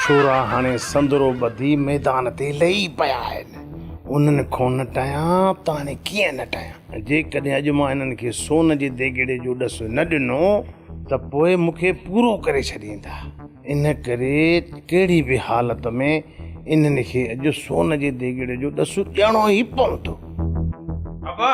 ڇورا هڻي سندرو ٻڌي ميدان تي لهي پيا آهن. انهن کون نه ٽهيان ته هاڻي ڪيئن نه ٽهيان. جيڪڏهن اڄ مان هنن کي سون جي ديڳڙي جو ڏس نه ڏنو ته پوء مون کي پورو ڪري ڇڏيندا. ان ڪري ڪهڙي به حالت ۾ انهن کي اڄ سون جي ديڳڙي جو ڏس ڏيڻو ئي پوندو. ابا!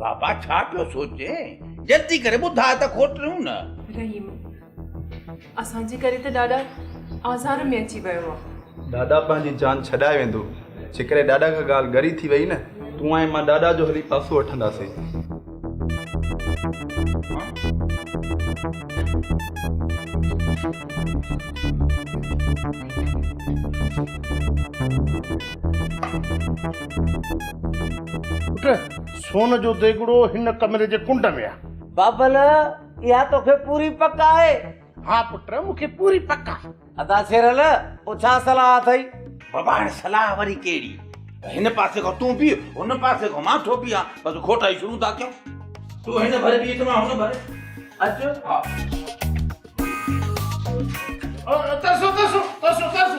بابا ڇا پيو سوچين؟ جلدي ڪري ٻڌاء ته کوٽريون نه. رحيم، اسان جي ڪري ته ڏاڏا آزار ۾ اچي ويو آ. ڏاڏا پنهنجي جان ڇڏائي ويندو. جيڪڏهن ڏاڏا کان ڳالهه ڳري ٿي ويئي نه. تون ۽ مان ڏاڏا جو هلي پاسو وٺنداسين. سون جو ديڳڙو هن ڪمري جي ڪنڊ ۾ آهي بابل اها توکي پوري پڪ آهي ها پٽ مون کي پوري پڪ آهي ادا سيرل پو ڇا صلاح اٿئي بابا هاڻي صلاح وري ڪهڙي هن پاسي کان تون بي هن پاسي کان مان ٿو بيهان بس کوٽا ئي شروع ٿا ڪيون تون هن ڀر بي ته مان هن ڀر اچ ها ترسو ترسو ترسو ترسو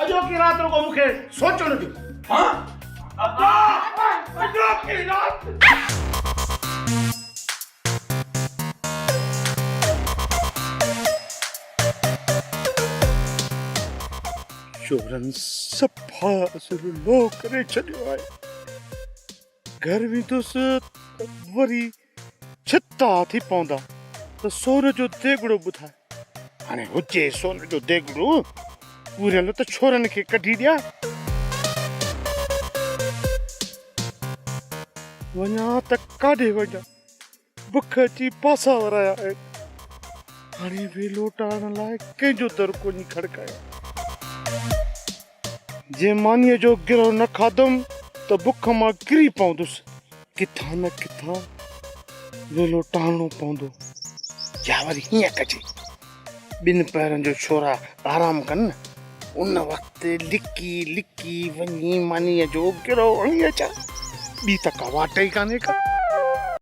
اڄوڪي رات رڳو مون کي سوچڻ ڏيو هان ابا اڄوڪي رات چورن صفا ذلولو ڪري ڇڏيو آهي گهر ويندس ته وري ڇتا ٿي پوندا ته سون جو ديڳڙو ٻڌاء. هاڻي هجي سون جو ديڳڙو پوريل ته ڇورن کي ڪڍي ڏيان. وڃان ته ڪاڏي وڃان، بک اچي پاسا ورايا آهن. هاڻي به لوٽائڻ لاء ڪنهن جو در ڪونهي کڙڪايو. جنهن مانيء جو گرهه نه کاڌم ته بک مان ڪري پوندس، ڪٿان نه ڪٿان ويلو ٽاهڻو پوندو. يا وري هيئن ڪجي، ٻن پهرن جو ڇورا آرام ڪن، ان وقت لڪي لڪي وڃي مانيء جو گرهه اڻي اچان، ٻي ته ڪا واٽ ئي ڪانهي ڪا.